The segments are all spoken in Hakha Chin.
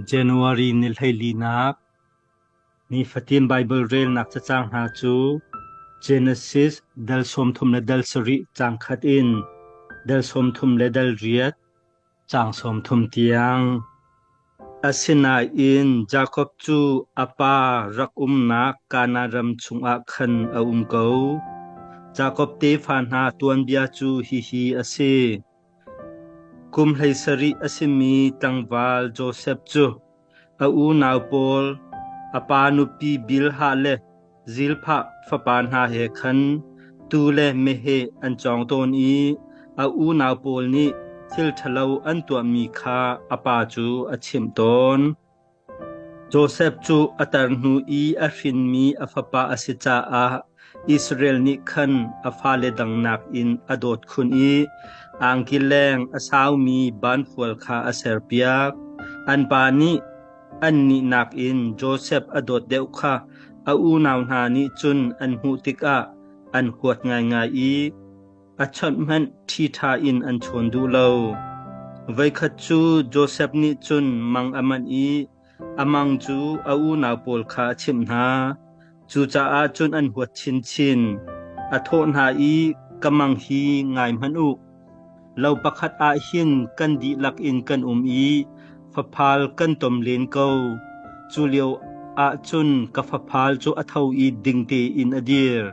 January ni hleilinak Nifatin Baibal relnak cacang hna cu Genesis dal sawmthum le dal sarih caang khat in dal sawmthum le dal riat caang sawmthum tiang. Asinain Jakob cu a pa rak umnak Kanaan ram chungah khan a um ko. Jakob tefa hna tuanbia cu hihi a si: Kum hlei sarih a simi tlangval Josef cu a unau pawl, a pa nupi Bilhah le Zilphah fapa hna he khan tuu le meheh an cawng tawn i a unau pawl nih thil ṭhalo an tuahmi kha a pa cu a chimh tawn. Josef cu a tar hnu i a hrinmi a fapa a si caah Israel nih khan a fale dang nakin a dawt khun i angkileng a saumi banfual kha a serpiak. An pa nih annih nakin Josef a dawt deuh kha a unau hna nih cun an hmuh tikah an huat ngaingai i, A chawnh hmanh ṭhiṭha in an chawn duh lo. Voikhat cu Josef nih cun mang a manh i a mang cu a unau pawl kha a chimh hna. Cucaah cun an huat chinchin. A thawh hna i, Ka mang hi ngai hmanh u. Lo pakhat ah hin kan dihlak in kan um i faphal kan tom len ko. Culio ah cun ka faphal cu a tho i ding tein a dir.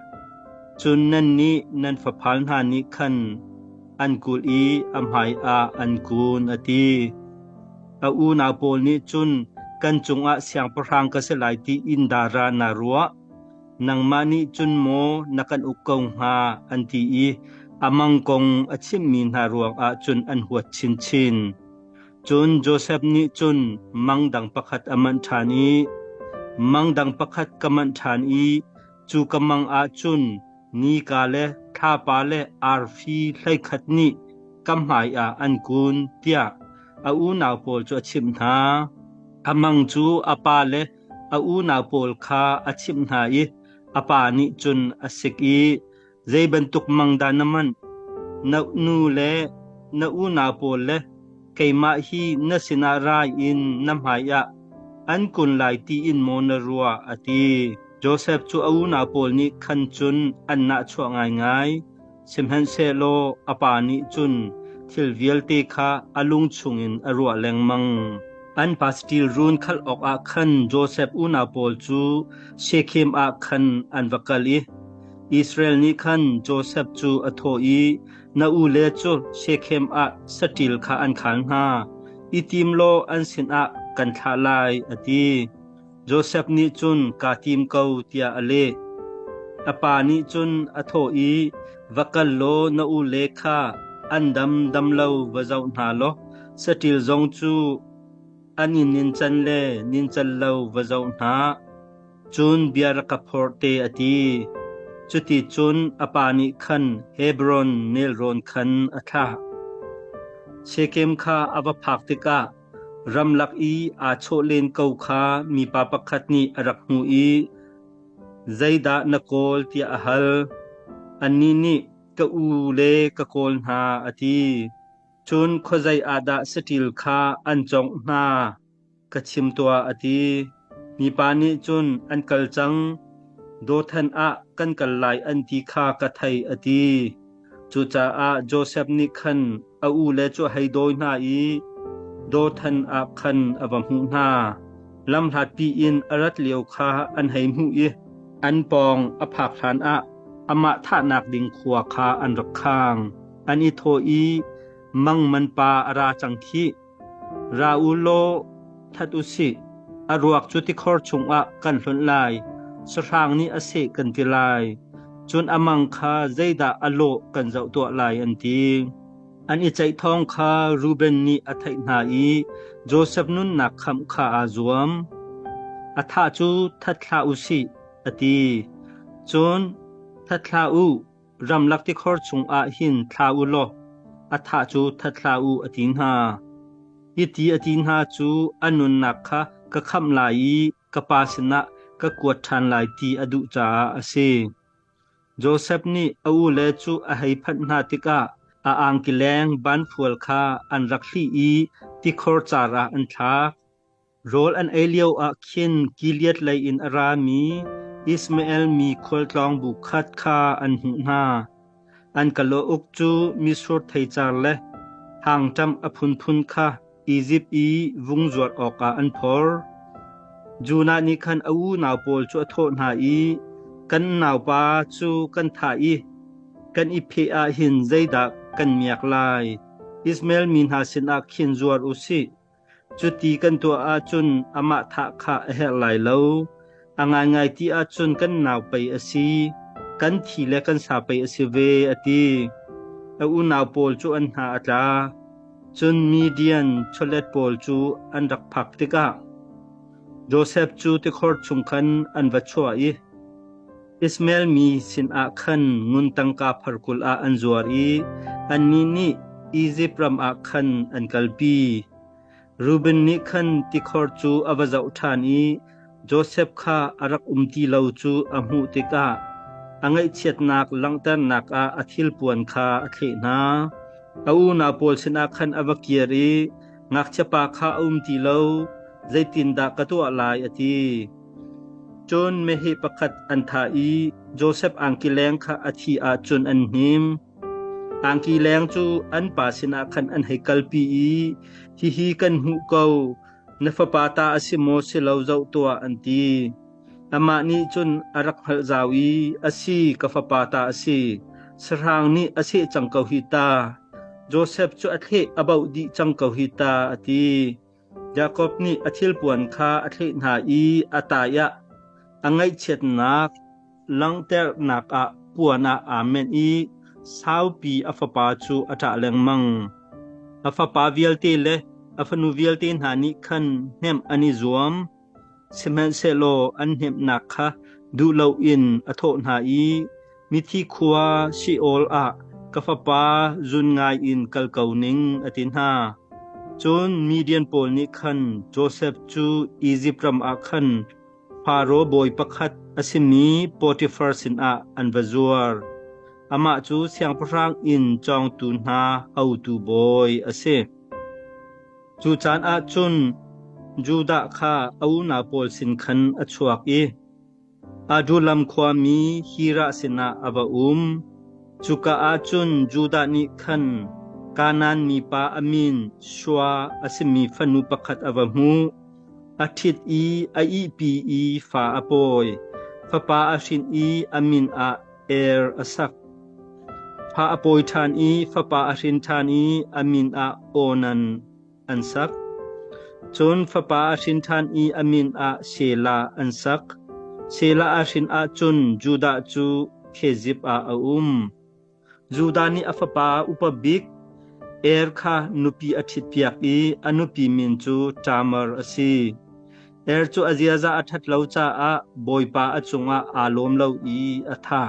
Cun nannih nan faphal hna nih khan an kulh i a hmaiah an kun, a ti. A unau pawl nih cun, Kan cungah siangpahrang ka si lai ti in dara naa ruah? Nangmah nih cun maw na kan uk ko hnga? an ti i a mang kong a chimhmi hna ruangah cun an huat chinchin. Cun Josef nih cun mang dang pakhat a manh ṭhan i, mang dang pakhat ka manh ṭhan i Cu ka mang ah cun nika le thlapa le arfi hleikhat nih ka hmai ah an kun, tiah a unau pawl cu a chimh hna. A mang cu a pa le a unau pawl kha a chimh hna i a pa nih cun a sik i, Zei bantuk mang dah na manh? Na nu le na unau pawl le keimah hi na sinah rai in na hmaiah an kun lai tiin maw na ruah? a ti. Josef cu a unau pawl nih khan cun an nahchuah ngaingai, sihmanhsehlaw a pa nih cun thil vialte kha a lung chungin a ruah lengmang. An pa saṭil run khalh awkah khan Josef unau pawl cu Shekhem ah khan an va kal i Israel nih khan Josef cu a thawh i, Na ule cu Shekhem ah saṭil kha an khal hna. I tim law an sinah kan thlah lai, a ti. Josef nih cun kaa tim ko, tiah a leh. A pa nih cun a thawh i, Va kal law na ule kha an damdam lo va zoh hna law saṭil zong cu an in nincan le nincal lo va zoh hna. Cun bia rak ka phorh te, a ti. Cuticun a pa nih khan Hebron nelrawn khan a thlah. Shekhem kha a va phak tikah ramlak i aa chawh len ko kha mipa pakhat nih a rak hmuh i, “Zeidah na kawl?” tiah a hal. Annih nih, “Ka u le ka kawl hna,” a ti. Cun khuazei ah dah saṭil kha an congh hna? ka chim tuah, a ti. Mipa nih cun an kal cang. Dothan ah kan kal lai an ti kha ka thei, a ti. Cucaah Josef nih khan a u le cu hei dawi hna i Dothan ah khan a va hmuh hna. Lamhlatpi in a rat lio kha an hei hmuh i an pawng a phak hlan ah amah thahnak ding khua kha an rak khang. An i thawh i, Mang man pa a ra cang khih. Ra u law that u sih. A ruak cu tikhor chungah kan hlunh lai, sahrang nih a seh kan ti lai. Cun a mang kha zeidah a lawh kan zoh tuah lai, an ti. An i ceih thawng kha Reuben nih a theih hna i Josef nunnak khamh kha aa zuam. A thah cu that hlah u sih, a ti. Cun that hlah u, Ramlak tikhor chungah hin thla u law a thah cu that hlah u, a ti hna. Hiti a ti hna cu an nunnak kha ka khamh lai i ka pa sinah ka kuat ṭhan lai ti a duh caah a si. Josef nih a ule cu a hei phanh hna tikah a angkileng ban fual kha an rak hlih i tikhor car ah an thlak. Rawl an ei lioah khin Gilead lei in a rami Ishmael mi khualtlawng bu khat kha an hmuh hna. An kalaw uk cu misur theicar le hangṭam a phunphun kha Izipt i vung zuar awkah an phor. Jonah nih khan a unau pawl cu a thawh hna i, “Kan naupa cu kan thah i kan i pheh ah hin zeidah kan miak lai? Ishmael mi hna sinah khin zuar u sih. Cuti kan tuah ahcun amah thah kha a herh lai lo. A ngaingai ti ahcun kan nau pei a si. Kan thi le kan sa pei a si ve, a ti. A unau pawl cu an hna a tla. Cun Midian chawlet pawl cu an rak phak tikah Josef cu tikhor chung khan an va chuah i, Ismael mi sinah khan ngun tangka phar kul ah an zuar i annih nih Izipt ram ah khan an kalpi. Reuben nih khan tikhor cu a va zoh ṭhan i Josef kha a rak um ti lo cu a hmuh tikah a ngaihchiatnak langhternak ah a thilpuan kha a thleh hna. A unau pawl sinah khan a va kir i, ngakchiapa kha a um ti lo, zeitindah ka tuah lai? a ti. Cun meheh pakhat an thah i Josef angki leng kha a thih ahcun an hnim. Angki leng cu an pa sinah khan an hei kalpi i, Hihi kan hmuh ko, na fapa ta a si maw si lo zoh tuah, an ti. Amah nih cun a rak hngalh zau i, A si, ka fapa ta a si, sahrang nih a seh cang ko hi ta. Josef cu a thleh a bauh dih cang ko hi ta, a ti. Jakob nih a thilpuan kha a thleh hna i a taiah a ngaihchiatnak langhternak ah puan ah aa menh i saupi a fapa cu a ṭah lengmang. A fapa vialte le a fanu vialte hna nih khan hnemh an i zuam. Sihmanhsehlaw an hnemhnak kha duh loin a thawh hna i, Mithi khua Sheol ah ka fapa zun ngaiin kal ko ning, a ti hna. Cun Midian pawl nih khan Josef cu Izipt ram ah khan Faro bawi pakhat a simi Potifar sinah an va zuar. Amah cu siangpahrang inn cawngtu hna hotu bawi a si. Cu caan ah cun Judah kha a unau pawl sin khan a chuak i Adullam khuami Hirah sinah a va um. Cuka ah cun Judah nih khan Kanaan mipa a min Shua a simi fanu pakhat a va hmuh. A ṭhit i a ihpi i fa a pawi. Fapa a hrin i a min ah Er a sak. Fa a pawi ṭhan i fapa a hrin ṭhan i a min ah Onan an sak. Cun fapa a hrin ṭhan i a min ah Sela an sak. Sela a hrin ahcun Judah cu Khezib ah a um. Judah nih a fapa upa bik Er kha nupi a ṭhitpiak i a nupi min cu Tamar a si. Er cu a ziaza a ṭhat lo caah Bawipa a cungah aa lawm lo i a thah.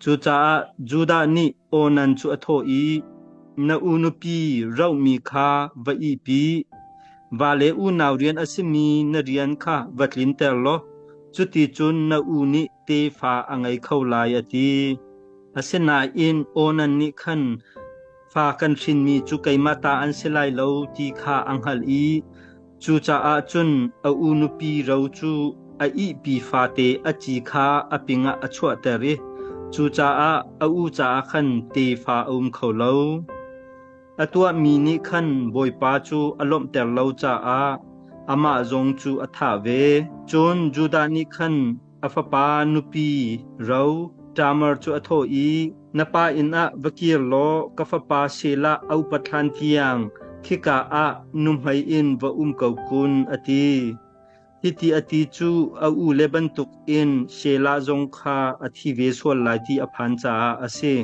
Cucaah Judah nih Onan cu a thawh i, Na u nupi rohmi kha va ihpi. Vale unau rian a simi na rian kha va tlinter law cuticun na u nih tefa a ngei kho lai, a ti. Asinain Onan nih khan, Fa kan hrinmi cu keimah ta an si lai lo ti kha a hngalh i cucaah cun a u nupi ro cu a ihpi fate a ci kha a pingah a chuahter i cucaah a u caah khan tefa a um kho lo. A tuahmi nih khan Bawipa cu a lawmhter lo caah amah zong cu a thah ve. Cun Judah nih khan A fapa nupi ro Tamar cu a thawh i, Na pa inn ah va kir law ka fapa Shelah a upat hlan tiang khika ah nuhmei in va um ko kun, a ti. Hiti a ti cu a ule bantukin Shelah zong kha a thi ve sual lai ti a phan caah a si.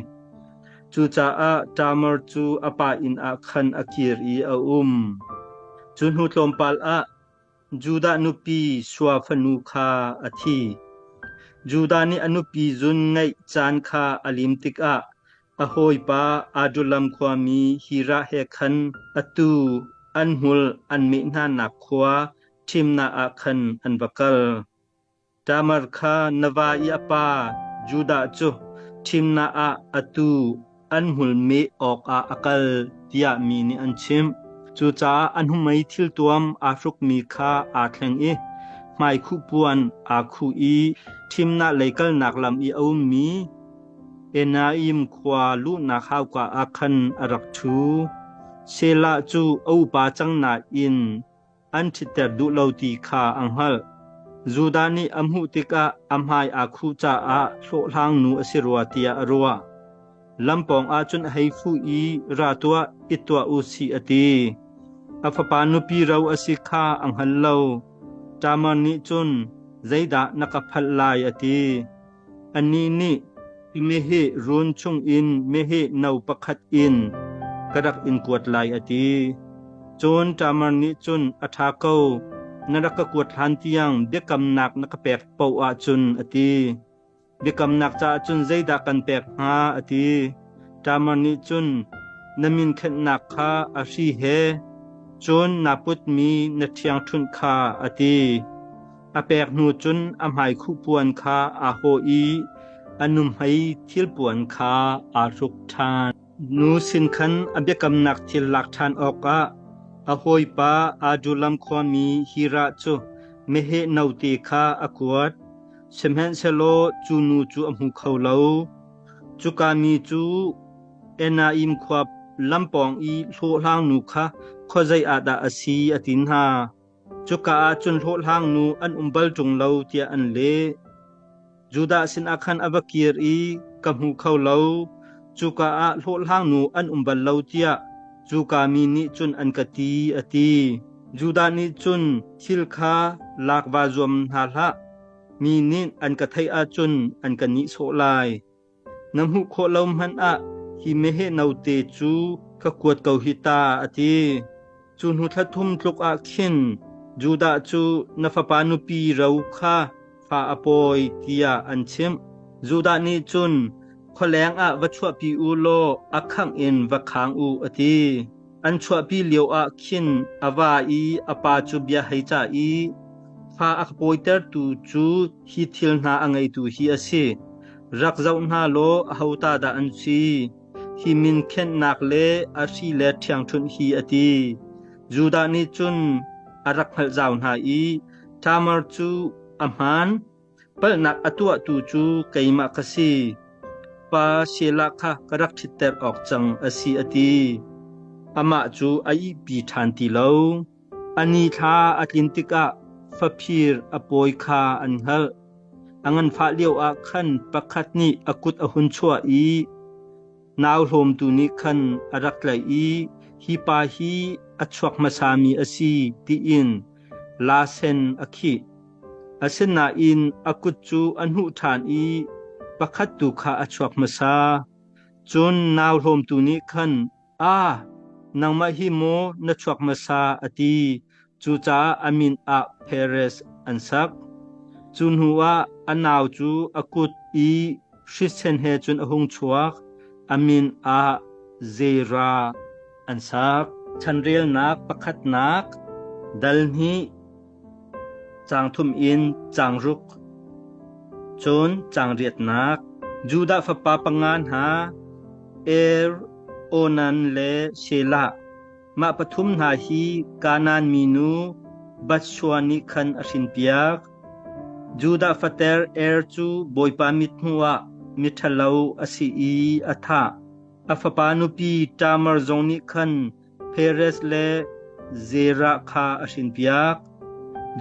Cucaah Tamar cu a pa inn ah khan a kir i a um. Cu hnu tlawmpal ah Judah nupi sua fanu kha a thi. Judah nih a nupi zun ngeih caan kha a lim tikah a hawipa Adullam khuami Hirah he khan atu an hmul an meh hnanak khua thimnak ah khan an va kal. Tamar kha na va i a pa Judah cu thimnak ah atu an hmulmi awkah a kal tiah mi nih an chimh. Cucaah a hnumei thiltuam aa hrukmi kha aa thleng i hmaikhuhpuan aa khuh i thimnak lei kalnak lam i a ummi Enaim khua luhnak hauka ah khan a rak ṭhu. Selah cu a upa cang nain an ṭhitter duh lo ti kha a hngalh. Judah nih a hmuh tikah a hmai aa khuh caah hlawhhlang nu a si rua tiah a ruah. Lam pawngah cun a hei fuh i, Ra tuah, it tuah u sih a ti. A fapa nupi ro a si kha a hngal lo. Tamar nih cun, Zeidah na ka phalh lai a ti. Anih nih, Meheh run chungin meheh no pakhat in ka rak in kuat lai, a ti. Cun ṭamar nih cun, A ṭha ko, na rak ka kuat hlan tiang biakamnak na ka pek paoh ahcun, a ti. Biakamnak caah cun zeidah kan pek hnga, a ti. Ṭamar nih cun, Na min khenhnak kha a hri he, cun naa putmi na ṭhiangṭhunh kha, a ti. A pek hnu cun a hmaikhuhpuan kha aa hawh i a nuhmei thilpuan kha aa hruk ṭhan. Nu sin khan a biakamnak thil lak ṭhan awkah a hawipa Adulam khuami Hirah cu meheh note kha a kuat, sihmanhsehlaw cu nu cu a hmu kho lo. Cuka mi cu Enaim khua lam pawng i hlawhhlangnu kha khuazei ah dah a si, a ti hna. Cuka ah cun hlawhhlangnu an um bal ṭung lo tiah an leh. Judah sinah khan a va kir i, Ka hmu kho lo, cuka ah hlawhhlangnu an um bal lo tiah cuka mi nih cun an ka ti, a ti. Judah nih cun thil kha lak va zuam hna hlah, mi nih an ka theih ahcun an ka nihsawh lai. Na hmuh khawh lo hmanh ah hi meheh note cu ka kuat ko hi ta, a ti. Cu hnu thla thum tluk ah khin Judah cu na fapa nupi ro kha fa a pawi tiah an chimh. Judah nih cun, Khualeng ah va chuahpi u law a khangh in va khang u, a ti. An chuahpi lioah khin a va i a pa cu bia hei cah i, Fa a ka pawitertu cu hi thil hna a ngeitu hi a si. Rak zoh hna law aho ta dah an si? Hi min khenhnak le a hri le ṭhiangṭhunh hi a ti. Judah nih cun a rak hngalh zau hna i Tamar cu a hmaan. Palhnak a tuahtu cu keimah ka si. Pa Shelah kha ka rak ṭhitter awk cang a si a ti. Amah cu a ihpi ṭhan ti lo. A ni thla a tlin tikah faphir a pawi kha an hngalh. A nganfah lioah khan pakhat nih a kut a hun chuah i nau hlawmtu nih khan a rak tlaih i hi pa hi a chuak hmasami a si tiin lasen a khih. Asinain a kut cu a hnuh ṭhan i pakhat tu kha a chuak hmasa. Cun nau hlawmtu nih khan, “A, nangmah hi maw na chuak hmasa?” a ti. Cucaah a min ah Perez an sak. Cu hnuah a nau cu a kut i Hrisen he cun a hung chuak, a min ah Zera an sak. Chanrelnak pakhatnak dal hnih, caang thum in caang ruk, cun caang riatnak. Judah fapa panga hna Er, Onan le Shelah. Mah pathum hna hi Kanaan minu Batshua nih khan a hrinpiak. Judah fater Er cu Bawipa mit hnuah miṭhalo a si i a thah. A fapa nupi Tamar zong nih khan Perez le Zerah kha a hrinpiak.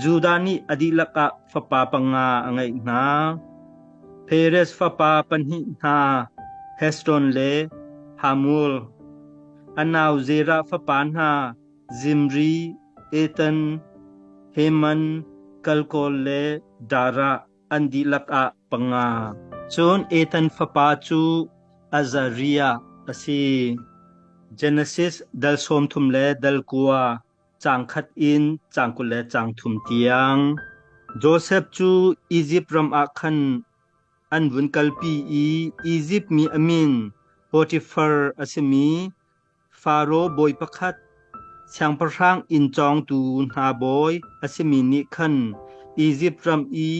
Judah nih a dihlak ah fapa panga a ngeih hna. Perez fapa pahnih hna Heshbon le Hamul. A nau Zerah fapa hna Zimri, Ethan, Heman, Kalkol le Darah an dihlak ah panga. Cun Ethan fapa cu Azariah a si. Genesis dal sawmthum le dal kua caang khat in caang kul le caang thum tiang. Josef cu Izipt ram ah khan An vun kalpi i Izipt mi a min Potifar a simi Faro bawi pakhat, siangpahrang inn cawngtu hna bawi a simi nih khan Izipt ram i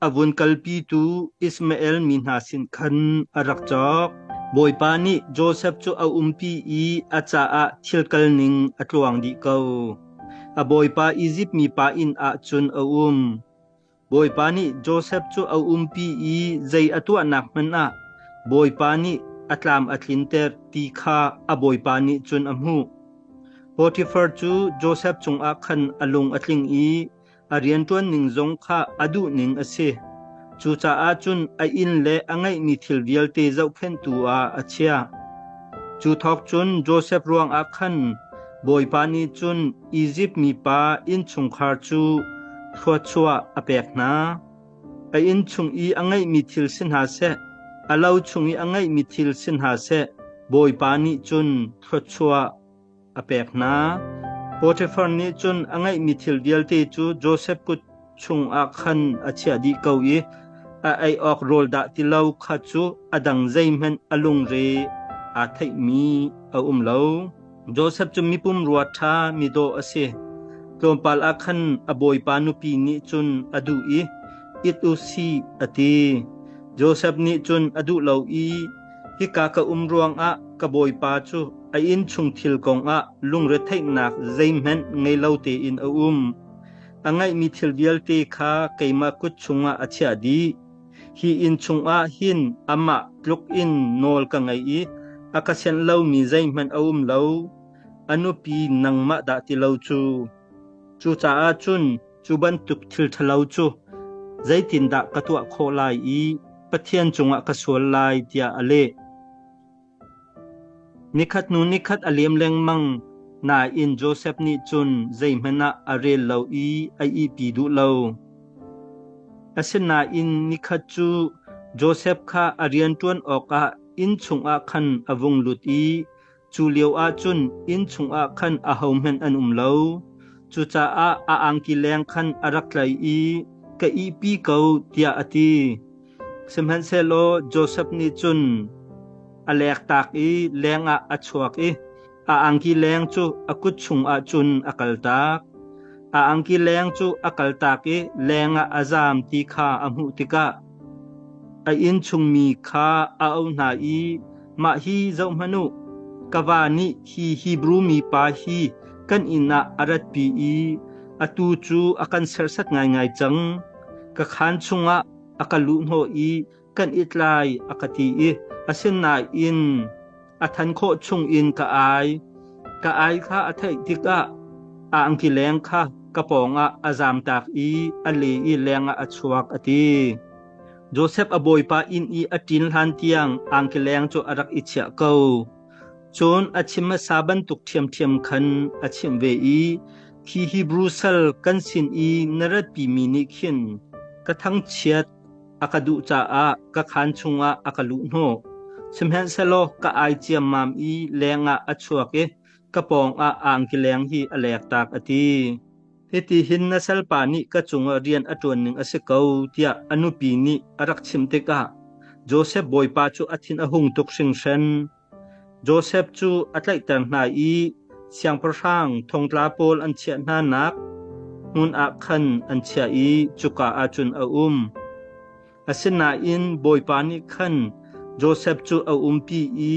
a vun kalpitu Ishmael mi hna sin khan a rak cawk. Bawipa nih Josef cu a umpi i a caah thil kalning a tluang dih ko. A bawipa Izipt mipa inn ah cun a um. Bawipa nih Josef cu a umpi i zei a tuahnak hmanh ah Bawipa nih a tlam a tlinter ti kha a bawipa nih cun a hmuh. Potifar cu Josef cungah khan a lung a tling i a rianṭuan ning zong kha a duhning a si. Cucaah cun a inn le a ngeihmi thil vialte zohkhenhtu ah a chiah. Cu thawk cun Josef ruangah khan Bawipa nih cun Izipt mipa innchungkhar cu thluachuah a pek hna. A inn chung i a ngeihmi thil si hna seh, a lo chung i a ngeihmi thil si hna seh, Bawipa nih cun thluachuah a pek hna. Potifar nih cun a ngeihmi thil vialte cu Josef kut chungah khan a chiah dih ko i a ei awk rawl dah ti lo kha cu a dang zeihmanh a lungre aa theihmi a um lo. Josef cu mipum rua ṭha midawh a si. Tlawmpal ah khan a bawipa nupi nih cun a duh i it u si a ti. Josef nih cun a duh lo i Hika ka um ruangah ka bawipa cu a innchung thil kongah lungretheihnak zeihmanh ngei lo tein a um. A ngeihmi thil vialte kha keimah kut chungah a chiah dih. Hi inn chungah hin amah tluk in nawl ka ngei i a ka sianh lomi zeihmanh a um lo. A nupi nangmah dah ti lo cu. Cucaah cun Cu bantuk thilṭhalo cu zeitindah ka tuah khawh lai i Pathian cungah ka sual lai tiah a leh. Nikhat hnu nikhat a liam lengmang nain Josef nih cun zeihmanh ah a rel lo i a ihpi duh lo. Asinain nikhat cu Josef kha a rian ṭuan awkah inn chungah khan a vung lut i Cu lioah cun inn chungah khan ahohmanh an um lo. Cucaah a angki leng khan a rak tlaih i, Ka ihpi ko, tiah a ti. Sihmanhsehlaw Josef nih cun a lektak i lengah a chuak i a angki leng cu a kut chungah cun a kaltak. A angki leng cu a kaltak i lengah a zaam ti kha a hmuh tikah, A inn chungmi kha a auh hna i, Mah hi zohhmanh u, ka va nih hi Hebru mipa hi kan inn ah a ratpi i atu cu a kan serhsat ngaingai cang. Ka khaan chungah a ka luhhnawh i kan it lai, a ka ti i, asinain A than khawh chungin ka ai. Ka ai kha a theih tikah a angkileng kha ka pawngah a zamtak i a le i lengah a chuak a ti. Josef a bawipa inn i a ṭin hlan tiang angkileng cu a rak i chiah ko. Cun a chim hmasa bantuk ṭhiamṭhiam khan a chimh ve i, Khi Hebru sal kan sin i na ratpi mi nih khin ka thangchiat A ka duh caah ka khaan chungah a ka luh hnawh. Sihmanhsehlaw ka ai ciammam i lengah a chuak i ka pawngah angkileng hi a lektak a ti. Hitihin na salpa nih ka cungah rian a ṭuan ning a si ko tiah a nupi nih a rak chim tikah Josef bawipa cu a thin a hung tuk hringhran. Josef cu a tlaihter hna i siangpahrang thongtla pawl an chiah hnanak hmun ah khan an chiah i cuka ah cun a um. Asinain Bawipa nih khan Josef cu a umpi i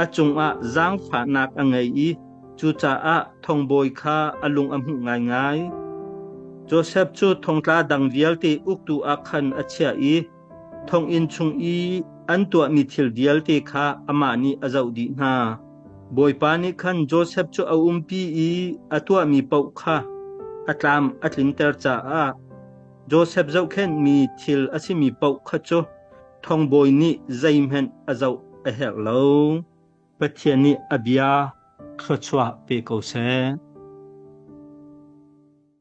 a cungah zaangfahnak a ngei i cucaah thongbawi kha a lung a hmuh ngaingai. Josef cu thongtla dang vialte uktu ah khan a chiah i Thonginn chung i an tuahmi thil vialte kha amah nih a zoh dih hna. Bawipa nih khan Josef cu a umpi i a tuahmi paoh kha a tlam a tlinter caah Josef zohkhenhmi thil a simi paoh kha cu thongbawi nih zeihmanh a zoh a herh lo. Pathian nih a bia thluachuah pe ko seh.